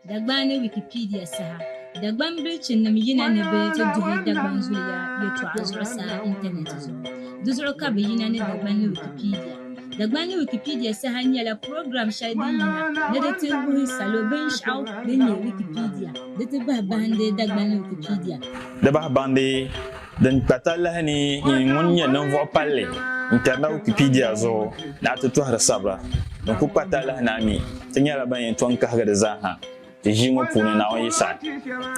Dagban ni Wikipedia saha Dagban bilichinim yina ni bɛ ti duhi Dagban zuliya yɛtɔɣa zuɣusaa intanɛti zuɣu. Di zuɣu ka bɛ yina ni Dagban ni Wikipedia. Dagban ni Wikipedia saha nyɛla program shɛli din yina ni di ti wuhi salo binshɛɣu din nyɛ Wikipedia di ti bahi bahindi Dagban ni Wikipedia. Di bahi bahindi. Din kpa talahi ni i ŋun nyɛ ninvuɣ palli n-tɛri na Wikipedia zuɣu ni a ti tɔhiri sabira din kul kpa talahi ni a mi ti nyɛla ban yɛn tɔŋ kahigi di zaa ha ti ʒii ŋɔ puuni Naawuni yi saɣi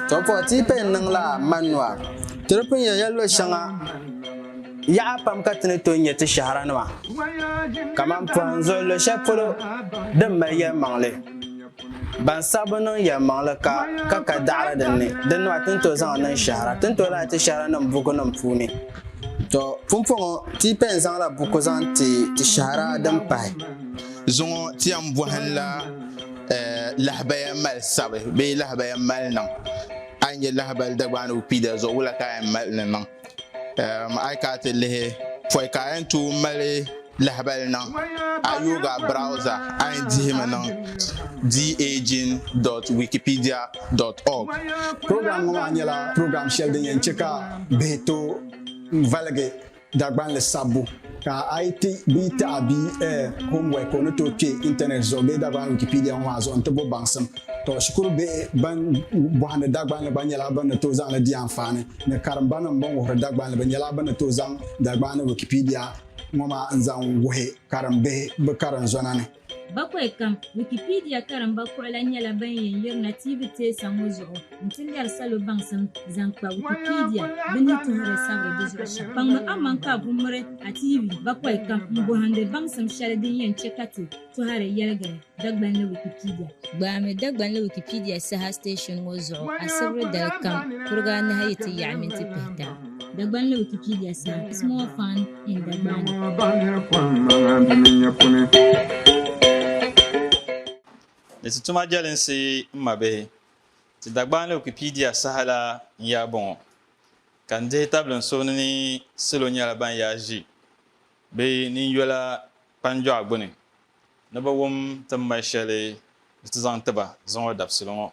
To puhi ti yi paya n-niŋ la Manua. Ti di pun yɛn ya luɣ shɛŋa yaɣa pam ka ti ni tooi nya ti shɛhira nima kaman pɔhim zuɣu luɣ shɛli polo din mali yɛlimaŋli. Ban saɣi bi niŋ yɛlimaŋli ka ka ka daɣiri din ni, din nɔhi ti ni tooi zaŋ niŋ shɛhira, ti ni tooi lahi ti shɛhiranim bukunim puuni. Tɔ! Pumpɔŋɔ, ti yi pɛn zaŋla buku zaŋ ti ti shɛhira din pahi. Zuŋɔ ti yɛn bɔhinla lahabaya mali sabi bee lahabaya mali niŋ. A yi nya lahabali Dagbaanigu Kpiida zuɣu, wula ka a yɛn mali ni niŋ? A yi kana ti lihi pɔi ka a yɛn tooi mali lahabali niŋ a yooga browza a yɛn dihimi niŋ daging.wikipedia.org program ŋɔ maa nyɛla program shɛli din yɛn chɛ ka bihi tooi valigi Dagbanli sabbu Ka a yi ti bia taɣi bia eh, homework o ni tooi kpe intanet zuɣu bee Dagbani Wikipedia ŋɔ maa zuɣu nti bo baŋsim. Tɔ, shikuru bihi ban bɔhindi Dagbanli gba nyɛla bɛ ni tooi zaŋ li di anfaani ni karimbanim bɛn wuhiri Dagbanli bɛ nyɛla bɛ ni tooi zaŋ Dagbani Wikipedia ŋɔ maa n-zaŋ wuhi karimbihi bɛ karinzɔna ni. Bakwai kam, Wikipedia karimba kuɣila nyɛla ban yɛn yirina tiivi teesa ŋɔ zuɣu nti lɛri salo baŋsim zaŋ kpa Wikipedia bɛ ni tuhiri sabiri di zuɣu shɛm. Kpaŋmi aman ka a ku miri a tiivi bakwai kam m-bɔhindi baŋsim shɛli din yɛn chɛ ka ti tɔhiri yɛligiri Dagbanli Wikipedia. Gbaami Dagbanli Wikipedia saha station ŋɔ zuɣu asibiri dali kam kuriga anahi yi ti yaɣi minti pihita. Dagbanli Wikipedia saha, Small Fund. Ni ti tuma jɛlinsi n mabihi, ti Dagbani Wikipedia saha la n yaa bɔŋɔ, ka n dihi tabili n suhuni ni salo nyɛla ban yaa ʒi bɛ ninyola kpanjɔɣu gbuni ni bɛ wum ti ni mali shɛli ni ti zaŋ tiba zuŋɔ dabisili ŋɔ.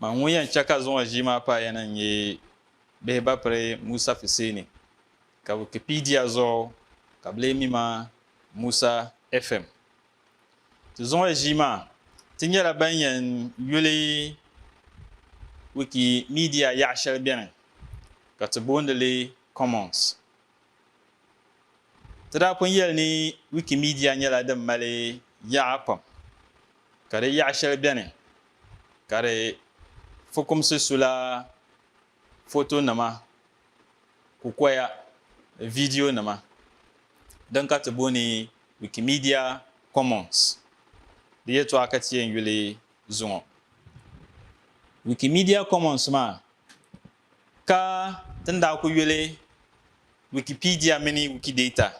Man ŋun yɛn chɛ ka zuŋɔ ʒii maa paai ya na n-nyɛ Bihibapiri Musa Fiseeni Ka Wikipedia zuɣu ka bɛ lee mi ma Musa FM. Ti zuŋuya ʒii maa, ti nyɛla ban yɛn yuli Wikimedia yaɣa shɛli beni ka ti booni li Commons. Ti daa pun yɛli ni Wikimedia nyɛla din mali yaɣa pam, ka di yaɣa shɛli beni ka di fukumsi su la Fotonima, kukoya ni vidiyonima din ka ti booni Wikimedia Commons di yɛltɔɣa ka ti yɛn yuli zuŋɔ. Wikimedia Commons maa ka ti ni daa ku yuli Wikipedia mini Wikidata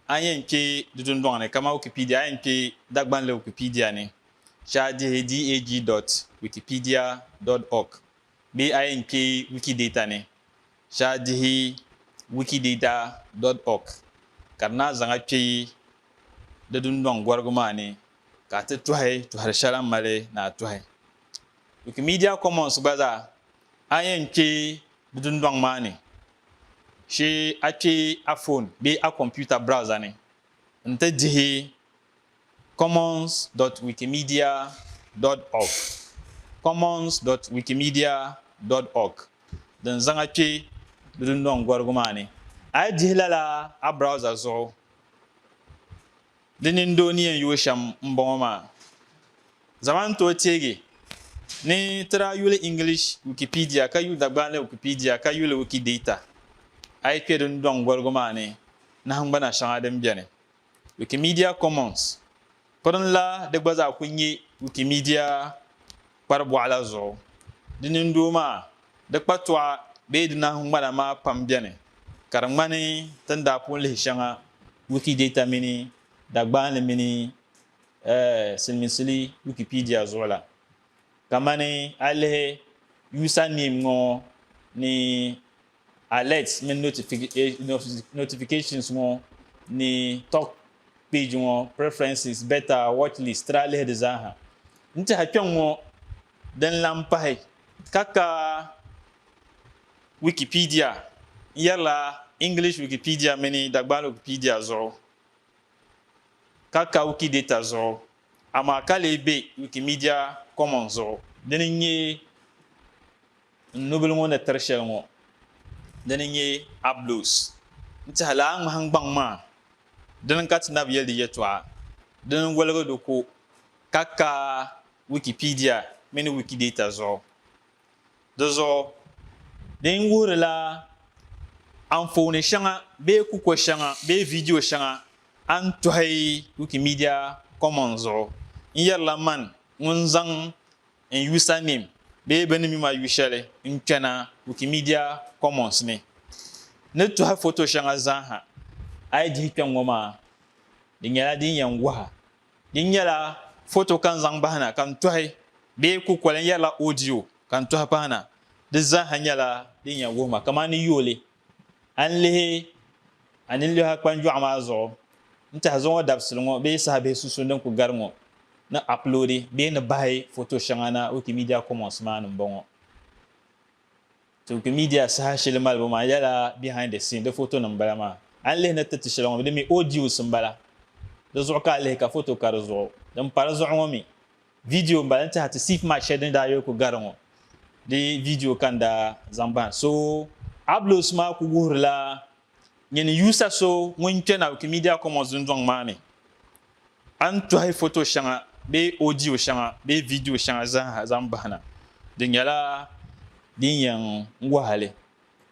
a ni yɛn kpe di dundɔŋ ni kaman Wikipedia a yɛn kpe Dagbanli Wikipedia ni shɛa dihi dag dot wikipedia dot org Bee a yɛn kpe Wikidata ni, shɛha dihi Wikidata dot org ka di naa zaŋ a kpe di dundɔŋ gɔrigu maa ni ka a ti tɔhi tɔhiri shɛli a ni mali ni a tɔhi. Wikimedia Commons gba zaa, a yɛn kpe di dundɔŋ maa ni, shee a kpe a fon bee a kompiuta browser ni n-ti dihi Commons dot wikimedia dot org Commons dot wikimedia dot org din zaŋa kpe di dundɔŋ gɔrigu maa ni. A yi dihi lala a browser zuɣu, di nindoo ni yɛn yooi shɛm m-bɔŋɔ maa. Zama n tooi teegi ni ti daa yuli English Wikipedia ka yuli Dagbani Wikipedia ka yuli Wikidata, a yi kpe di dundɔŋ gɔrigu maa ni, nahingbana shɛŋa din beni Wikimedia Commons piriŋ la di gba zaa kul nyɛ Wikimedia kpari bɔɣu la zuɣu. Di nindoo maa, di kpatɔɣa bee di nahingbana maa pam beni, ka di ŋmani ti ni daa pun lihi shɛŋa Wikidata mini Dagbaanli mini Siliminsili Wikipedia zuɣu la. Kamani a yi lihi username ŋɔ ni. Alerts mini Notifications ŋɔ ni Talk Page ŋɔ, Preferences, Beta, Watchlist ti daa lihi di zaaha. N tiɛha kpɛŋ ŋɔ din lan pahi ka ka Wikipedia n yɛrila English Wikipedia mini Dagbani Wikipedia zuɣu, ka ka Wikidata zuɣu, amaa ka lee be Wikimedia Commons zuɣu. Dini n-nyɛ. N nubili ŋɔ ni tiri shɛli ŋɔ dini n-nyɛ Ablos. N tɛhi lala ŋmahingbaŋ maa dini ka ti nabi yɛli di yɛtɔɣa dini n-woligi di ko ka ka Wikipedia mini Wikidata zuɣu. Di zuɣu din wuhirila anfooni shɛŋa bee kuko shɛŋa bee vidio shɛŋa a ni tɔhi Wikimedia Commons zuɣu n-yɛrila man ŋun zaŋ n yusanim bee bɛ ni mi ma yu shɛli n kpɛna Wikimedia Commons ni. Ni tɔhi foto shɛŋa zaaha a yi dihi kpɛŋŋɔ maa, di nyɛla din yɛn waha. Di nyɛla foto ka n zaŋ bahi na ka n tɔhi bee kukoli n yɛrila audio ka n tɔhi pahi na, di zaaha nyɛla din yɛn wuhi ma kamani yooli A ni lihi a ninliha kpanjɔɣu maa zuɣu n-tɛha zuŋɔ dabisili ŋɔ bee saha bihi sunsuuni din ku gari ŋɔ ni aploodi bee ni bahi foto shɛŋa na Wikimedia Commons maa ni m-bɔŋɔ. Ti Wikimedia saha shɛli malibu maa yɛla behind the scene, di fotonim m-bala maa. A ni lihi ni ti ti shɛli ŋɔ mi di mi audios m-bala. Di zuɣu ka a lihi ka foto ka di zuɣu. Din pa di zuɣu ŋɔ mi Video m-bala n-ti a ti sif mat shɛli din daa yuli ku gari ŋɔ di video ka n daa zaŋ bahi so. Ablos maa ku wuhirila nyini yuusa so ŋun kpe na Wikimedia Commons dundɔŋ maa ni. A ni tɔhi foto shɛŋa bee audio shɛŋa bee video shɛŋa zaaha zaŋ bahi na, di nyɛla din yɛn wahi a li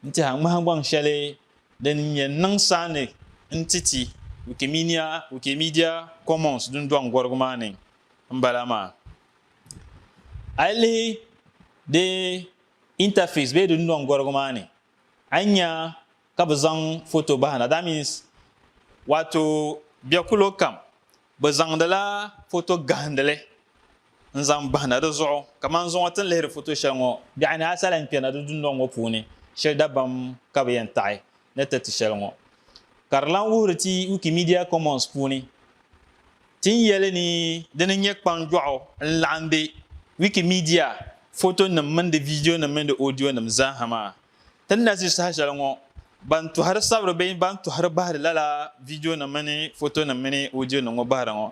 n-ti a ŋmahingbaŋ shɛli din yɛn niŋ saani n-ti ti Wikimedia Commons dundɔŋ gɔrigu maa ni n bala maa. A yi lihi di interface bee di nɔŋgɔrigu maa ni, a ni nya ka bɛ zaŋ foto bahi na. That means waato bɛkulo kam bɛ zaŋdila foto gahindili n zaŋ bahi na di zuɣu. Kamani zuŋɔ ti ni lihiri foto shɛli ŋɔ, biɛɣu ni a sa lahi kpɛna di dundɔŋ ŋɔ puuni shiri dabam ka bɛ yɛn taɣi ni ti ti shɛli ŋɔ. Ka di lahi wuhiri ti Wikimedia Commons puuni. Ti ni yɛli ni di ni nyɛ kpaŋdɔɣu n-laɣim be Wikimedia fotonim mini di viidionim mini di odionim zaaha maa. Ti ni na ʒi saha shɛli ŋɔ, ban tɔhiri sabiri bee ban tɔhiri bahiri lala viidionim mini fotonim mini odionim ŋɔ bahiri ŋɔ,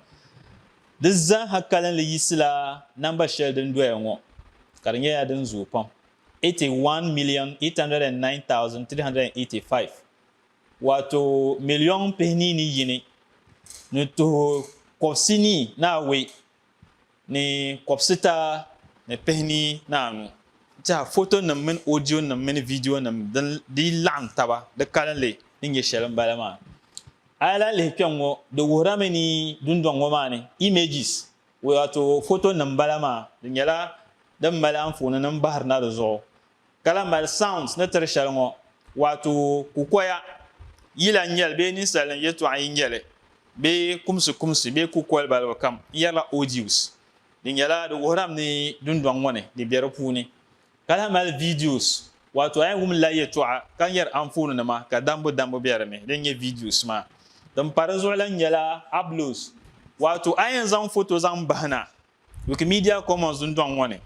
di zaaha kalinli yiɣisila namba shɛli din doya ŋɔ, ka di nyɛla din zooi pam, 81,809,385. Waato miliɔŋ pihini ni yini ni tuhi kɔbisi ni naawei ni kɔbisita ni pihini ni anu. Tiɛha fotonim mini odionim mini vidiyonim din dii laɣim taba di kalinli ni nyɛ shɛli m-bala maa. A yi lahi lihi kpɛŋ ŋɔ, di wuhirami ni dundɔŋ ŋɔ maa ni images, waato fotonim m-bala maa, di nyɛla din mali anfooninima bahirina di zuɣu. ka lahi mali sounds ni tiri shɛli ŋɔ, waato kukoya yila n-nyɛli bee ninsalinima yɛltɔɣa n-nyɛli bee kumsikumsi bee kukoli balibu kam n-yɛrila audios. Di nyɛla di wuhirami ni dundɔŋ ŋɔ ni di be di puuni, ka lahi mali videos, waato a yɛn wum la yɛltɔɣa ka n-yɛri anfoonima ka dambu dambu be di ni din nyɛ videos maa. Din pa di zuɣu lahi nyɛla ablows, waato a yɛn zaŋ foto zaŋ bahi na Wikimedia Commons dundɔŋ ŋɔ ni,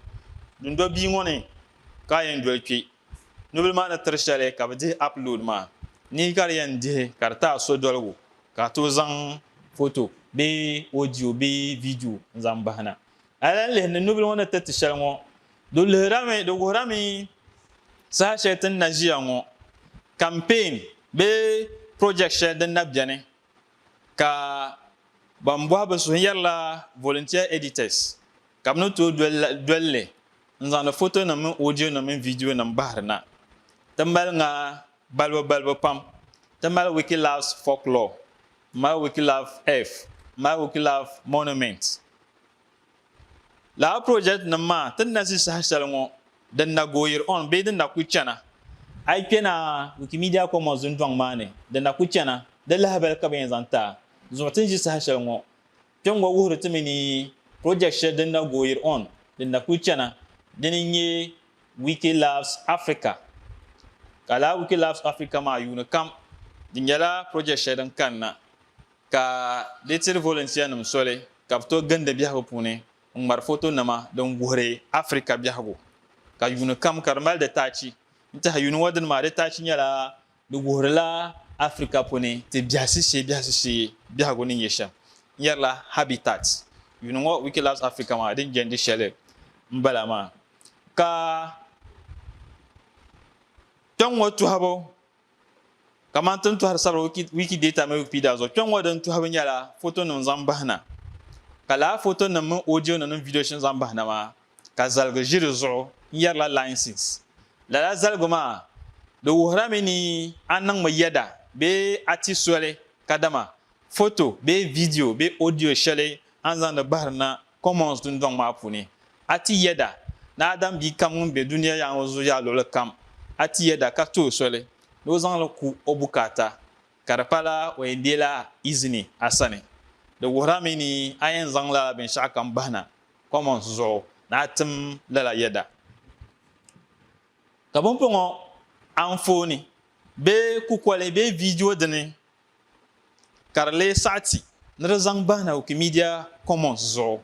dundɔ bia ŋɔ ni ka a yɛn doli kpe. Nubila maa ni tiri shɛli ka bɛ dihi upload maa, nihi ka di yɛn dihi ka di ti a sodoligu ka a tooi zaŋ foto bee audio bee video n-zaŋ bahi na. A lahi lihi ni nubila ŋɔ ni tiriti shɛli ŋɔ, di lihirami, di wuhirami saha shɛli ti ni na ʒiya ŋɔ, campaign bee project shɛli din na beni ka ban bɔhi bɛ suhu yɛrila volunteer editors ka bɛ ni tooi doli li n-zaŋdi fotonima mini odionima mini vidionima bahiri na. Ti mali ŋa balibu balibu pam. Ti mali Wikilabs Folklore, m-mali Wikilabs Earth, m-mali Wikilabs Monuments. Lala project nim maa ti na zi saha shɛli ŋɔ din na gooyiri on bee din na kuli chana. A yi kpe na Wikimedia Commons dundɔŋ maa ni din na kuli chana, di lahabali ka bɛ yɛn zaŋ taai zuɣu ti ni zi saha shɛli ŋɔ. Kpe ŋɔ wuhiri ti mi ni project shɛli din na gooyiri on din na kuli chana dini n-nyɛ Wiki Loves Africa. Ka lala Wiki Loves Africa maa yuuni kam di nyɛla project shɛli din kani na. ka di tiri volunteer-nim soli ka bɛ tooi gindi biɛhigu puuni n-ŋmari fotonima din wuhiri Africa biɛhigu, ka yuuni kam ka di mali di taachi. N-tɛha yuuni ŋɔ dini maa, di taachi nyɛla di wuhirila Africa puuni ti biɛhisi shee biɛhisi shee biɛhigu ni nyɛ shɛm. N yɛrila Habitat. Yuuni ŋɔ Wiki Loves Africa maa din jɛndi shɛli m-bala maa. Ka kpɛŋŋɔ tɔhibu. Kamani ti ni tɔhiri sabiri Wikidata mini Wikipedia zuɣu, kpɛŋŋɔ din tɔhibu nyɛla fotonim zaŋ bahi na. Ka lala fotonim mini odionim mini vidio shɛli zaŋ bahi na maa, ka zaligu ʒi di zuɣu n-yɛrila License. Lala zaligu maa, di wuhirami ni a niŋmi yɛda bee a ti soli kadama foto bee vidio bee odio shɛli a ni zaŋdi bahiri na Commons dundɔŋ maa puuni. A ti yɛda ni Adam bia kam ŋun be dunia yaŋ o zuɣu yaa luɣili kam, a ti yɛda ka ti o soli ni o zaŋ li ku o bukaata, ka di pala o yɛn deei la izini a sani. Di wuhira mi ni a yɛn zaŋ lala binshɛɣu kam bahi na Commons zuɣu ni a tim lala yɛda. Ka pumpɔŋɔ anfooni bee kukoli bee viidiyo dini ka di lee saɣi ti ni di zaŋ bahina Wikimedia Commons zuɣu.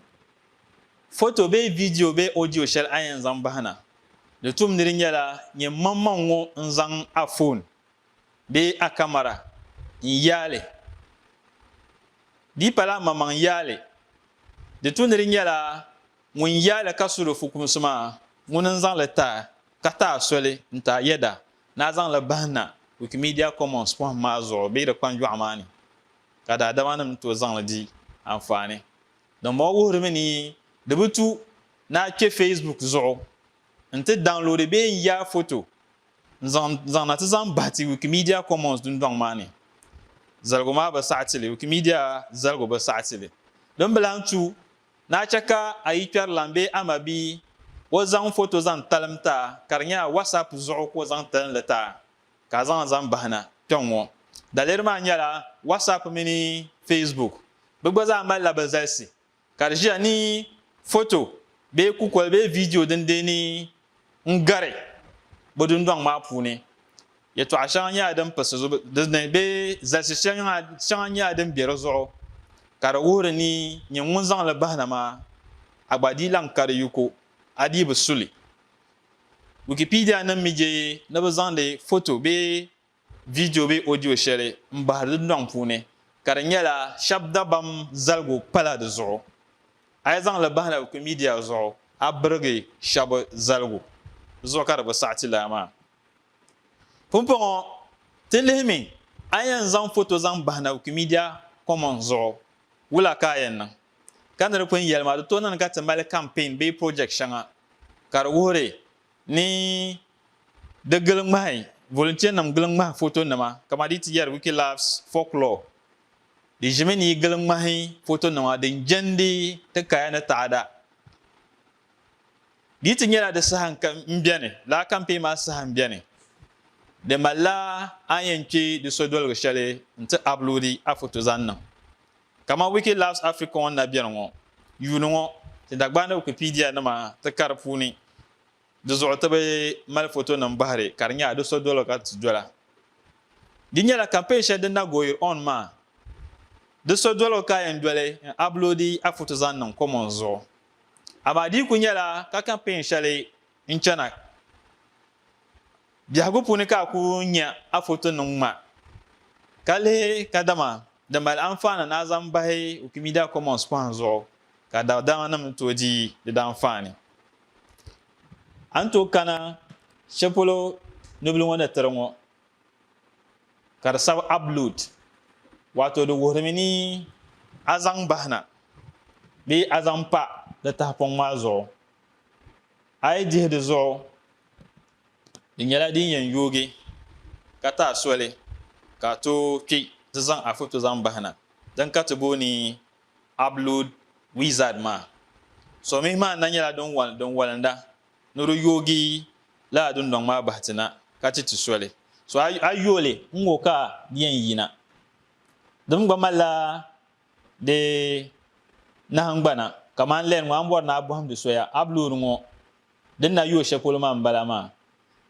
Foto bee vidiyo bee ɔdiyo shɛli a yɛn zaŋ bahina di tum ni di nyɛla nyɛ mmaŋmaŋ ŋɔ n-zaŋ a foon bee a kamara n-yaai li di pala mmaŋmaŋ yaai li di tu ni di nyɛla ŋun yaai li ka su di fukumsi maa ŋuni n-zaŋ li taai ka taai soli n-taai yɛda Naa zaŋ la bahi na Wikimedia Commons pɔhim maa zuɣu bee di kpanjɔɣu maa ni, ka daadamanim tooi zaŋ li di anfaani. Dimbɔŋɔ wuhiri mi ni di bi tu naa kpe Facebook zuɣu nti daŋloodi bee n-yaai foto n-zaŋ zaŋ na ti zaŋ bahi ti Wikimedia Commons dundɔŋ maa ni. Zaligu maa bi saɣi ti li, Wikimedia zaligu bi saɣi ti li. Din bi lan tu Naa chɛ ka a yi kpɛri lan bee a ma bia, o zaŋ foto zaŋ talim ti a ka di nyɛ a WhatsApp zuɣu ka o zaŋ tili li ti a ka a zaŋ li zaŋ bahina kpɛŋ ŋɔ. Daliri maa nyɛla WhatsApp mini Facebook. Bɛ gba zaa malila bɛ zalisi ka di ʒiya ni foto bee kukoli bee viidiyo din deei ni n-gari bɛ dundɔŋ maa puuni. Yɛtɔɣa shɛŋa nyɛla din pisi zuɣu di ni bee zalisi shɛŋa nyɛla din be di zuɣu ka di wuhiri ni nyin ŋun zaŋ li bahi na maa, a gba dii lan kari yiko, a dii bi su li. Wikipedianim mi je ni bɛ zaŋdi foto bee vidio bee odio shɛli m-bahi di dundɔŋ puuni ka di nyɛla shɛb dabam zaligu pala di zuɣu. A yi zaŋ li bahi na Wikimedia zuɣu, a birigi shɛb zaligu. Di zuɣu ka di bi saɣiti lala maa. Pumpɔŋɔ, ti lihimi a yɛn zaŋ foto zaŋ bahi na Wikimedia Commons zuɣu, wula ka a yɛn niŋ? Ka ni di pun yɛli maa, di tooi niŋdi ka ti mali campaign bee project shɛŋa ka di wuhiri ni di gili ŋmahi volunteer-nim gili ŋmahi fotonima kaman di yi ti yɛri Wikilabs Folklore, di ʒimi ni yi gili ŋmahi fotonima din jɛndi ti kaya ni taada. Di ti nyɛla di saha m-beni, laa kampeen maa saha m-beni. Di malila a ni yɛn kpe di sodoligu shɛli nti aploodi a foto zaŋ niŋ. Kaman Wiki Loves Africa ŋɔ ni na beni ŋɔ, yuuni ŋɔ, ti Dagbani Wikipedia nima ti kari puuni di zuɣu ti bi mali fotonim bahiri ka di nyɛla di sodoligu ka ti dola. Di nyɛla kampeen shɛli din na goyir on maa, di sodoligu ka a yɛn doli n-aploodi a foto zaŋ niŋ Commons zuɣu. Amaa di ku nyɛla ka kampeen shɛli n chana biɛhigu puuni ka a ku nya a foto niŋ ŋma ka lihi kadama di mali anfaani ni a zaŋ bahi Wikimedia Commons pɔhim zuɣu ka daɣidarimanim ni tooi di di daanfaani. A ni tooi kana shɛli polo nubila ŋɔ ni tiri ŋɔ ka di sabi upload wato di wuhirimi ni a zaŋ bahina bee a zaŋ pa di tahipɔŋ maa zuɣu a yi dihi di zuɣu di nyɛla din yɛn yoogi ka taai soli ka a tooi kpi ti zaŋ a foto zaŋ bahina din ka ti booni upload wizard maa so mihi maa na nyɛla din walinda Ni di yoogi lala dundɔŋ maa bahi ti na, ka ti ti soli. So a a yo li n-ŋɔ ka di yɛn yina. Di mi gba malila di nahingbana, kamani lɛn ŋɔ a ni bɔri ni a bɔhimdi soya a bi loori ŋɔ di ni na yo shɛli polo maa m-bala maa.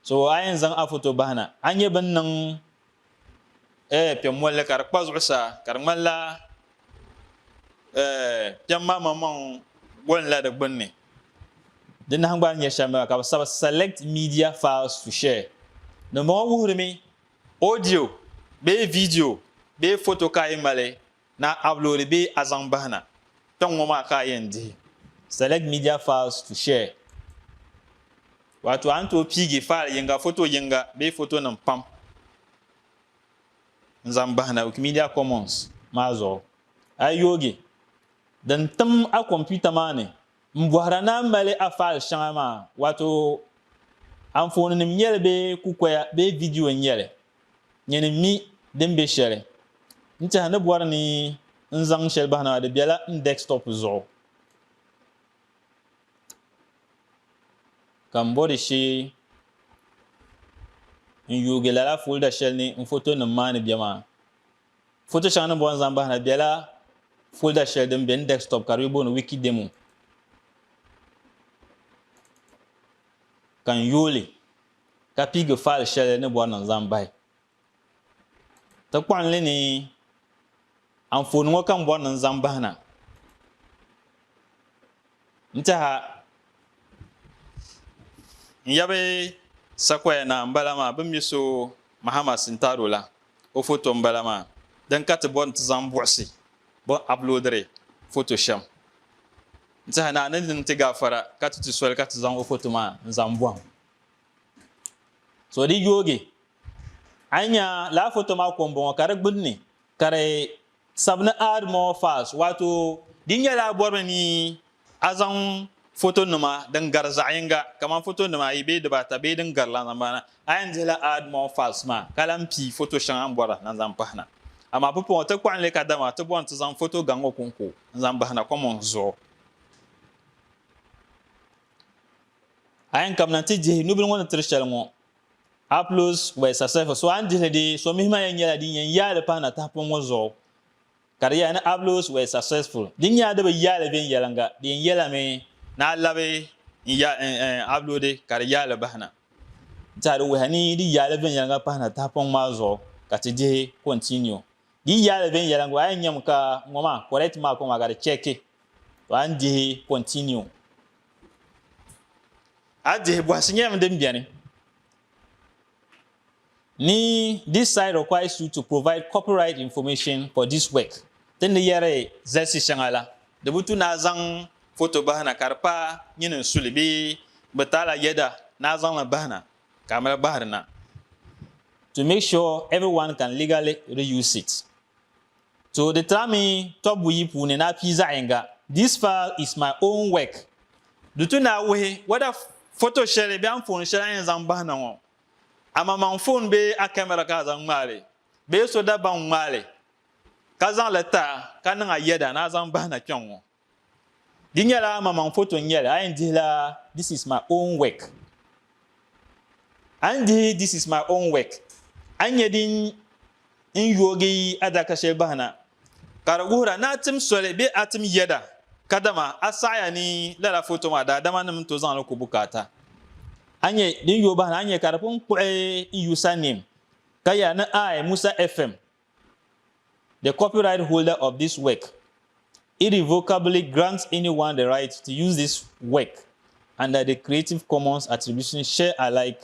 So a yɛn zaŋ a foto bahi na, a ni nya bɛ ni niŋ eh, piɛm molli ka di kpa zuɣusaa ka di ŋmanila eh, piɛm maa maŋmaŋ golinla di gbunni. Di nahingbani nyɛ shɛm ka bɛ sabi select media files to share. Dimbɔŋɔ wuhirimi audio bee video bee foto ka a yi mali Na a loori bee a zaŋ bahi na, kpɛŋ ŋɔ maa ka a yɛn dihi. Select media files to share, Waato a ni tooi piigi faali yiŋga, foto yiŋga bee fotonim pam n-zaŋ bahi na Wikimedia Commons maa zuɣu. A yi yoogi din tim a kɔmputa maa ni m-bɔhira ni a mali a faali shɛŋa maa, waato anfooninim nyɛ li bee kukoya bee vidiyo nyɛ li, nyini mi din be shɛli. N tɛha ni bɔri ni n zaŋ shɛli bahina maa di bela n desktop zuɣu ka m bɔri shee n yuugi lala folder shɛli ni n fotonim maa ni be maa. Foto shɛŋa ni bɔri n zaŋ bahina di bela folder shɛli din be n desktop ka di be booni Wikidemo ka n yooi li. ka piigi faali shɛli ni bɔri ni n zaŋ bahi ti kpaŋ li ni anfooni ŋɔ ka n bɔri ni n zaŋ bahi na n tiɛha n yabi sakoya naa n bala maa bin mi so mahama sintaro la o foto n bala maa din ka ti bɔri ni ti zaŋ buɣisi bin aploodiri foto shɛm n tiɛha naa ni di ni ti gaafara ka ti ti soli ka ti zaŋ o foto maa n zaŋ bɔhim so di yoogi a yi nya laa foto maa ko m-bɔŋɔ ka di gbunni ka di sabi ni add more files waato di nyɛla a bɔrimi ni a zaŋ fotonima din gari zaɣ'yiŋga kamani fotonima ayi bee dibaata bee din gari la zaŋ bahina a yɛn dihila add more files maa ka lan pii foto shɛŋa m bɔra na zaŋ bahina amaa pumpɔŋɔ ti kɔɣili ka dama ti bɔri ni ti zaŋ foto gaŋ ŋɔ kɔŋko n zaŋ bahina commons zuɣu. A yɛn kabina nti dihi nubili ŋɔ ni tiri shɛli ŋɔ. Aplos were successful, so a ni dihili dee, so mihi maa yɛn nyɛla din yɛn yaai li pahi na tahipɔŋ ŋɔ zuɣu. Ka di yɛla ni Aplos were successful, din nyɛla di bi yaai li viɛnyɛliŋga, di yɛn yɛla mi ni a labi n-aploodi ka di yaai li bahi na. Nti a di wuhiya ni di yaai li viɛnyɛliŋga pahi na tahipɔŋ maa zuɣu ka ti dihi continue. Di yi yaai li viɛnyɛliŋga, a yɛn nyami ka ŋɔ maa correct mark ŋɔ maa ka di chɛki, to a ni dihi continue. A dihi bɔhisi nyɛla mi din beni ni this site requires you to provide copyright information for this work ti ni yɛri zalisi shɛŋa la di bi tu ni a zaŋ foto bahina ka di pa nyini n suli bee bi taali a yɛda ni a zaŋli bahina ka a mali bahiri na to make sure everyone can legally reuse it. To di tirami tɔbu buyi puuni ni a pii zaɣ yinga. This file is my own work. Di tu ni a wuhi whether foto shɛli bee anfooni shɛli a yɛn zaŋ bahi na ŋɔ a maŋmaŋ foon bee a camera ka a zaŋ ŋmaai li bee so dabam ŋmaai li ka zaŋ li tiri a ka niŋ a yɛda ni a zaŋ bahi na kpɛŋŋɔ. Di nyɛla amaŋmaŋ foto n-nyɛ li, a yɛn dihi la This is my own work. A ni dihi This is my own work, a ni nyɛ din n yoogi adaka shɛli bahi na, ka di wuhira ni a tim soli bee a tim yɛda, kadama a saɣiya ni lala foto maa daadama nim ni tooi zaŋ li ku bukaata. A nyɛ din yooi bahi na, a ni nyɛ ka di pun kpuɣi n user name, ka yɛli ni I, Musa FM, The copyright holder of this work irrevocably grants anyone the right to use this work under the Creative Commons Attribution Share Alike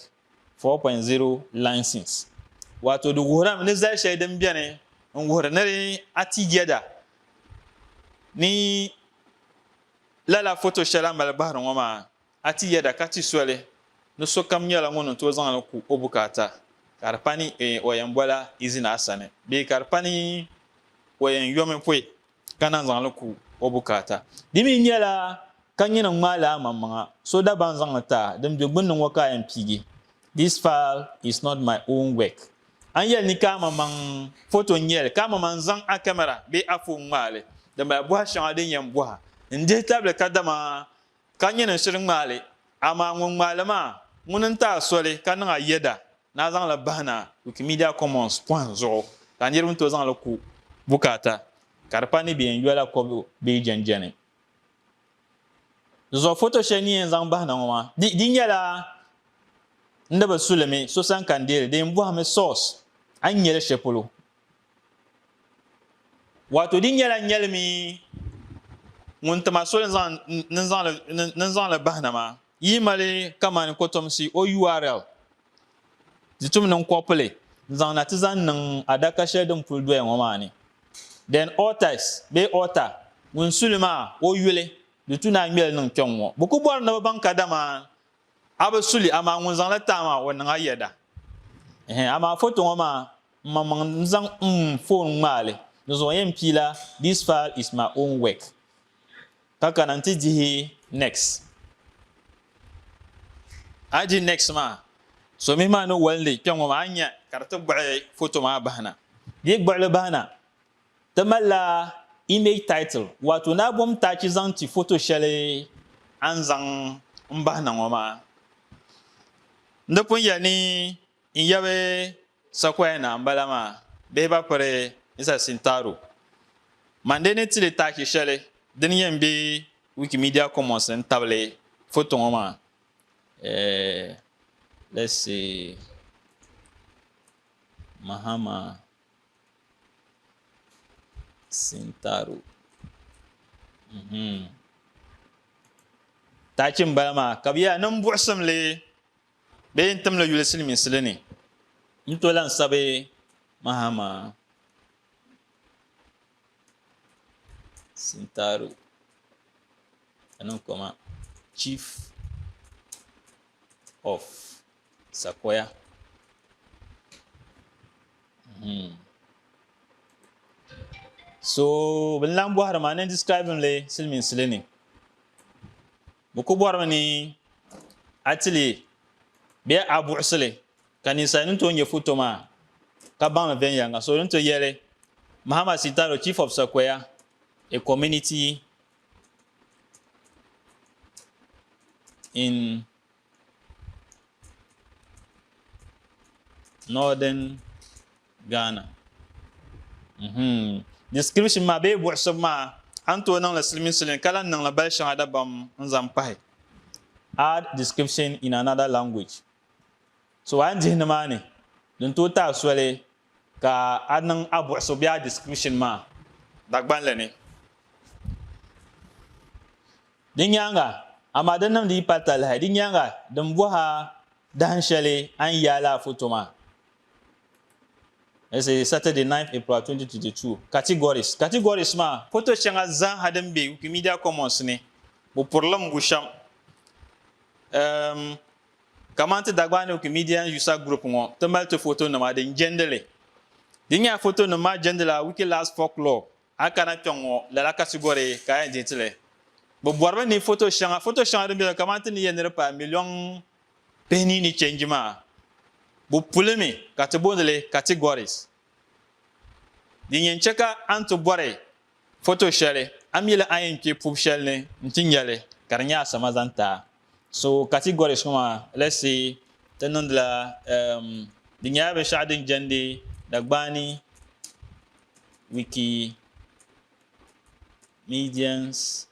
4.0 license. Waato di wuhirami ni zali shɛli din beni n wuhiri ni a ti yɛda ni lala foto shɛli a mali bahiri ŋɔ maa A ti yɛda ka ti soli ni sokam nyɛla ŋun ni tooi zaŋ li ku o bukaata, ka di pa ni o yɛn bol a izini a sani bee ka di pa ni o yɛn yomi pɔi ka naan zaŋ li ku o bukaata. Di mi nyɛla ka nyini ŋ-ŋmaai li amaŋmaŋa, so daa ban zaŋ li ti a, din be gbunni ŋɔ ka a yɛn piigi, This file is not my own work. A ni yɛli ni ka amaŋmaŋ foto n-nyɛ li, ka amaŋmaŋ n-zaŋ a kamara bee a foon ŋmaai li, di mali bɔha shɛŋa din yɛn bɔhi n-dihi tabili kadama Ka nyini n shiri ŋmaai li, amaa ŋun ŋmaai li maa, ŋuni n-ti a soli ka niŋ a yɛda ni a zaŋ li bahi na Wikimedia Commons pɔhim zuɣu ka a niriba ni tooi zaŋ li ku bukaata ka di pa ni bɛ yɛn yola kɔbu bee yi jɛnjɛni di zuɣu. Foto shɛli ni yɛn zaŋ bahi na ŋɔ maa, di di nyɛla n ni bi su li mi so sani ka n deei li, di yɛn bɔhimi source a ni nya li shɛli polo. Wato di nyɛla nyɛlimi ŋun ti ma soli ni zaŋli bahi na maa yi mali kamani kotomsi o url di tum niŋ kɔpili n zaŋ na ti zaŋ niŋ adaka shɛli din puli doya ŋɔ maa ni then authors bee author ŋun suli maa o yuli di tu ni a ŋmeli niŋ kpɛŋ ŋɔ bi ku bɔri ni bi baŋ kadama A bi su li, amaa ŋun zaŋ li taai maa, o niŋ a yɛda. Ɛhɛn, amaa foto ŋɔ maa, m ma maŋ n-zaŋ m foon ŋmaai li. Di zuɣu yɛn pii la This file is my own work. Ka kana nti dihi Next. A yi di Next maa, so mihi maa ni walindi kpɛŋ ŋɔ maa, a ni nya ka di ti gbuɣi foto maa bahi na. Di yi gbuɣi li bahi na, Ti malila image title waato naa bom taachi zaŋ ti foto shɛli a ni zaŋ m-bahi na ŋɔ maa. N di pun yɛli ni n yabi sakuaya naa m-bala maa bee ba piri Isa Sintaro. Mande ni ti li taachi shɛli din yɛn be Wikimedia Commons ni n-tabili foto ŋɔ maa. Eh, let's see, Mahama. Sintaro. Mhm. Tachi n bala maa ka bi yaa nin buɣusimli bee n timli yuli silimiinsili ni n to lan sabi mahama Sintaro ka niŋ koma chief of Sakoya. Hmm. So bin lan bɔhiri maa ni describing li siliminsili ni. Bɛ ku bɔrimi ni a tili bɛ a buɣisili ka ninsali ni tooi nyɛ foto maa ka baŋli viɛnyɛliŋga so din to yɛli Mahama Sitaro chief of Sakoya a community in Northern Ghana. Mhm. Description ma be buɣisib ma an to niŋli silmin silin ka lan niŋli bali shɛŋa dabam n zaŋ pahi. Add description in another language. So a ni dihi nimaani din to taai soli Ka a niŋ a buɣusu bee a description maa dagbanli ni. Di nyaaŋa, amaa di niŋdi yi pali talahi, di nyaaŋa din bɔh a dahin shɛli a ni yaai lala foto maa. This is Saturday ninth April 2022. Categories Categories maa, foto shɛŋa zaaha din be Wikimedia Commons ni, bupurilimigu shɛm, um, Kamani ti Dagbani Wikimidian User Group ŋɔ, ti mali ti fotonima din jɛndi li. Di nyɛla fotonim maa jɛndi la Wikilas folklore. A yi kana kpɛŋ ŋɔ, lala katigɔri ka a yɛn deei ti li. Bɛ bɔri mi ni foto shɛŋa foto shɛŋa din be ni kamani ti ni yɛli ni di paai miliɔŋ pihini ni change maa, bɛ puli mi ka ti booni li categories. Din yɛn chɛ ka a ni ti bɔri foto shɛli, a mi li a yɛn kpe pubu shɛli ni nti nya li ka di nyɛ a sama zaŋ ti a. So categories ŋɔ maa, let's say ti niŋdila um di nyɛla binshɛɣu din jɛndi Dagbaani Wikimedians.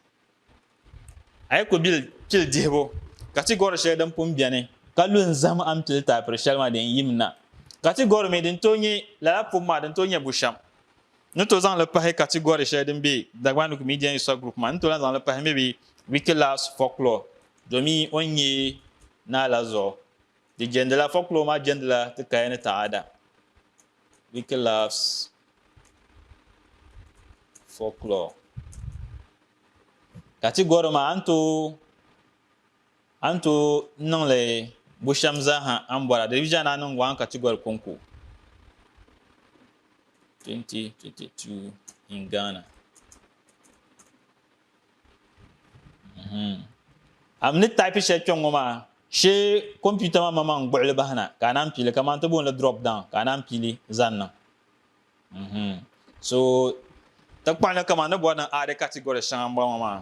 A yi ku bili pili dihibu ka ti gɔri shɛli din pun bɛni ka lu n-zahim a ni pili taapiri shɛli maa din yim na, ka ti gɔri mi din tooi nyɛ lala pum maa din tooi nyɛ bushɛm, n ni tooi zaŋ li pahi ka ti gɔri shɛli din be Dagbanuk Media User Group maa, n ni tooi lahi zaŋ li pahi maybe Wikilass Folklore domin o ni nyɛ naa la zuɣu. Di jɛndila folklore maa jɛndila ti kaya ni taɣaada. Wiki Laughs Folklore Ka ti gɔri ma a ni tooi a ni tooi niŋli bushɛm zaaha a ni bɔri a delivision ni a niŋ gɔŋ ka ti gɔri konko 2022 in Ghana. A ni taipi shɛli kpɛŋ ŋɔ maa shee kompiuta maa maŋmaŋ n-gbuɣili bahi na ka a naan piili kamani ti booni li drop down ka a naan piili zaŋ niŋ so ti kpaŋ li kamani ni bɔri ni add category shɛŋa m-bɔŋɔ maa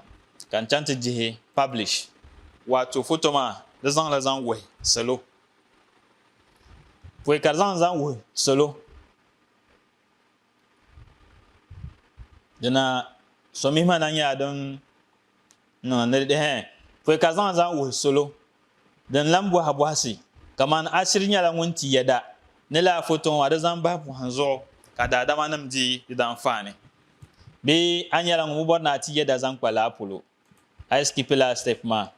ka n chaŋ ti dihi publish waato foto maa di zaŋ li zaŋ wuhi salo pɔi ka di zaŋ li zaŋ wuhi salo dina sɔmihima na nyɛla din niŋ ni dihɛ fɔi ka zaŋ zaŋ wuhi solo din lan bɔhi bɔhisi kamani ashiri nyɛla ŋun ti yɛda ni lala foto ŋɔ di zaŋ bahi pɔhim zuɣu ka daadamanim di di danfaani bee a nyɛla ŋun bi bɔri ni a ti yɛda zaŋ kpa lala polo a yi sikipi lala sitɛpi maa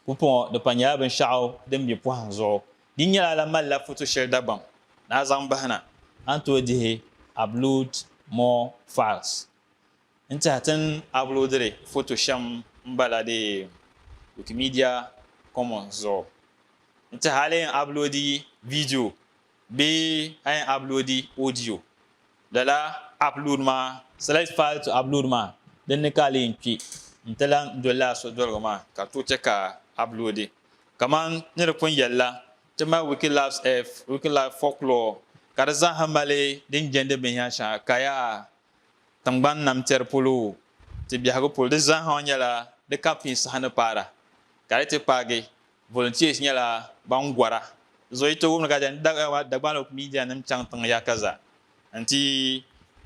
Pumpɔŋɔ di pa nyɛla binshɛɣu din be pɔhim zuɣu. Di nyɛla la malila foto shɛli Dagbaŋ daa zaŋ bahi na. A ni tooi dihi Upload more files n-tɛha ti ni aploadiri foto shɛm m-bala di Wikimedia Commons zuɣu n-tɛha a lee yɛn aploadi viidiyo. Bee a yɛn uploadi audio? Lala upload maa, select file to upload maa dinni ka a lee n-kpe nti lan doli lala sodoligu maa ka tooi chɛ ka a uploadi. Kaman ni di pun yɛli la, ti mali Wikilabs Earth, Wikilabs Folklore ka di zaa ha mali din jɛndi binyɛri shɛŋa kaya tiŋgbani namtɛri polo, ti biɛhigu polo. Di zaa ha nyɛla di ka pii saha ni paara ka di ti paagi Volunteers nyɛla ban gɔra zooi ti wumdi ka di ni Dagbani o media nim chaŋ tiŋ yaka zaa n ti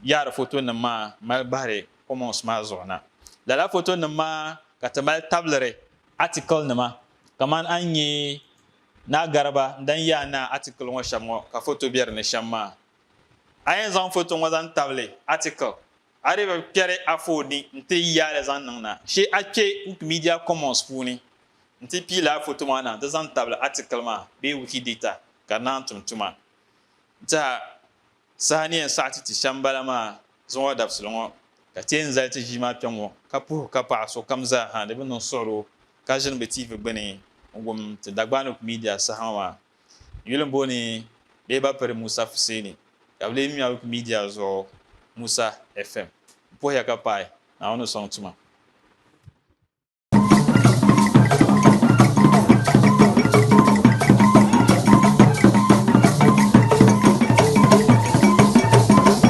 yaari foto nim maa mali bahiri commons maa zuɣu na. Lala foto nim maa ka ti mali tabili article nima kamani a ni nyɛ Naa Gariba n dan yaai naa article ŋɔ shɛm ŋɔ ka foto be di ni shɛm maa. A yɛn zaŋ foto ŋɔ zaŋ tabili article A dii bi kpɛri afooni n-ti yi yaali zaŋ niŋ na, shee a kpe Wikimedia Commons puuni n-ti pii lala foto maa na nti zaŋ tabili atikili maa bee Wikidata ka di naan tum tuma. N teha saha ni yɛn saɣiti ti shɛm bala maa zuŋɔ dabisili ŋɔ, ka ti yɛn zali ti ʒii maa kpɛŋɔ ka puhi ka paɣa sokam zaa ha di bi niŋ suɣiro ka ʒini bɛ TV gbini n-wum ti Dagbani Wikimedia saha ŋɔ maa. Yuli m-bo ni bɛ ba piri Musa Fuseni ka bɛ lee ŋmɛbu midia zuɣu Musa FM. M puhiya ka paai, Naawuni ni sɔŋ tuma.